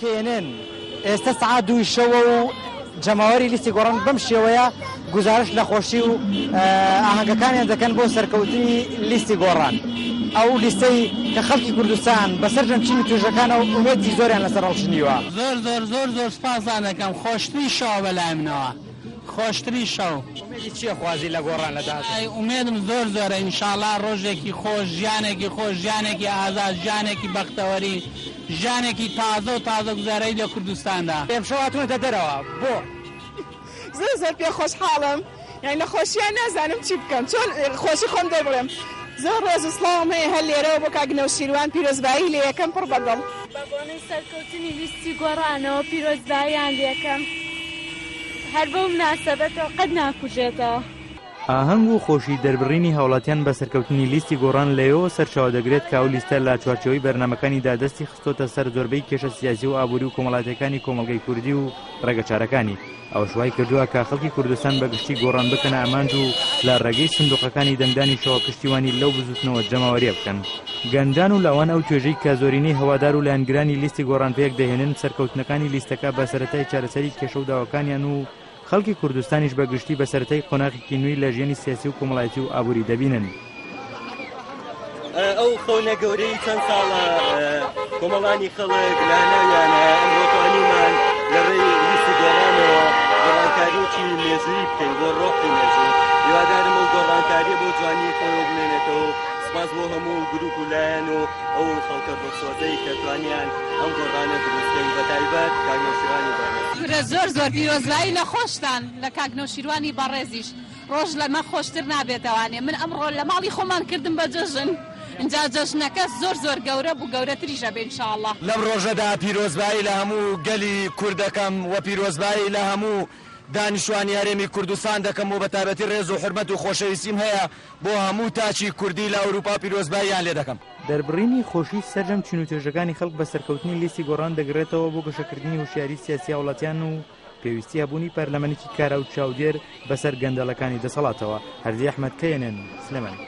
کێنێن ئێستا سعا دووی شەوە و جەماوەری لیستی گۆڕان بەم شێوەیە گزارش لە خۆشی و ئاهەنگەکانیان دەکەن بۆ سەرکەوتنی لیستی گۆڕان ئەو لیستەی کە خەڵکی کوردستان بەسەر جەمچین و توێژەکانەوە ئومێدی زۆریان لەسەر ڕەڵشنیوە زۆر زۆر زۆر زۆر سپاسانەکەم خۆشترین شەوە بەلای منەوە. خۆشترین شەو. ئومێدی چیە خوازی لە گۆڕان لە داهاتوو؟ ئای ئومێدم زۆر زۆرە ئینشاڵا ڕۆژێکی خۆش ژیانێکی خۆش ژیانێکی ئازاد ژیانێکی بەختەوەری ژیانێکی تازە و تازە گوزەرەی لە کوردستاندا. ئێمشەو هاتوونەتە دەرەوە بۆ؟ زۆر زۆر پێ خۆشحاڵم یانی لە خۆشیا نازانم چی بکەم چۆن خۆشی خۆم دەر بڵێم زۆر ڕێز و سڵاوم هەیە هەر لێرەوە بۆ کاک نەوشیروان پیرۆزبایی لێیەکەم پڕ بە دڵ. بە بۆنەی سەرکەوتنی لیستی گۆڕانەوە پیرۆزباییان لێکەم. هەر بەو مناسەبەتەوە قەت ناکوژێتەوە. ئاهەنگ و خۆشی دەربڕینی هاوڵاتیان بە سەرکەوتنی لیستی گۆڕان لەوێوە سەرچاوە دەگرێت کە ئەو لیستە لە چوارچێوەی بەرنامەکانیدا دەستی خستۆتە سەر زۆربەی کێشە سیاسی و ئابووری و کۆمەڵاتیەکانی کۆمەڵگەی کوردی و ڕێگە چارەکانی ئەوەش وای کردووە کە خەڵکی کوردستان بە گشتی گۆڕان بکەنە ئامانج و لە ڕێگەی سندوقەکانی دەنگدانیشەوە پشتیوانی لەو بزوتنەوە جەماوەریە بکەن. گەنجان و لاوان ئەو توێژەی کە زۆرینەی هەوادار و لایەنگرانی لیستی گۆڕان پێک دەهێنن سەرکەوتنەکانی لیستەکە بە سەرەتای چارەسەری کێشە و داواکانیان و خەڵکی کوردستانیش بە گشتی بە سەرەتای قۆناغێکی نوێی لە ژیانی سیاسی و کۆمەڵایەتی و ئابووری دەبینن. سوپاس بۆ هەموو گروپ و لایەن و ئەو خەڵکە دڵسۆزەی کە توانیان ئەم گۆڕانە دروست کەین بە تایبەت کاک نەوشیروانی بەڕێز. کورە زۆر زۆر پیرۆزبایی لە خۆشتان لە کاک نەوشیروانی بەڕێزیش ڕۆژ لەمە خۆشتر نابێتەوانێ من ئەمڕۆ لە ماڵی خۆمان کردم بە جەژن ئینجا جەژنەکە زۆر زۆر گەورە بوو گەورەتریش ئەبێ ان شاء اللە. لەم ڕۆژەدا پیرۆزبایی لە هەموو گەلی کورد دەکەم وە پیرۆزبایی لە هەموو دانیشتوانی هەرێمی کوردستان دەکەم و بەتایبەتی ڕێز و حورمەت و خۆشەویستیم هەیە بۆ هەموو تاکی کوردی لە ئەوروپا پیرۆزباییان لێ دەکەم. دەربڕینی خۆشی سەرجەم چین و توێژەکانی خەڵک بە سەرکەوتنی لیستی گۆڕان دەگڕێتەوە بۆ گەشەکردنی هۆشیاری سیاسی هاوڵاتیان و پێویستی هەبوونی پەرلەمەنێکی کارا و چاودێر بەسەر گەندەڵەکانی دەسەڵاتەوە، هەردی ئەحمەد، knn، سلێمانی.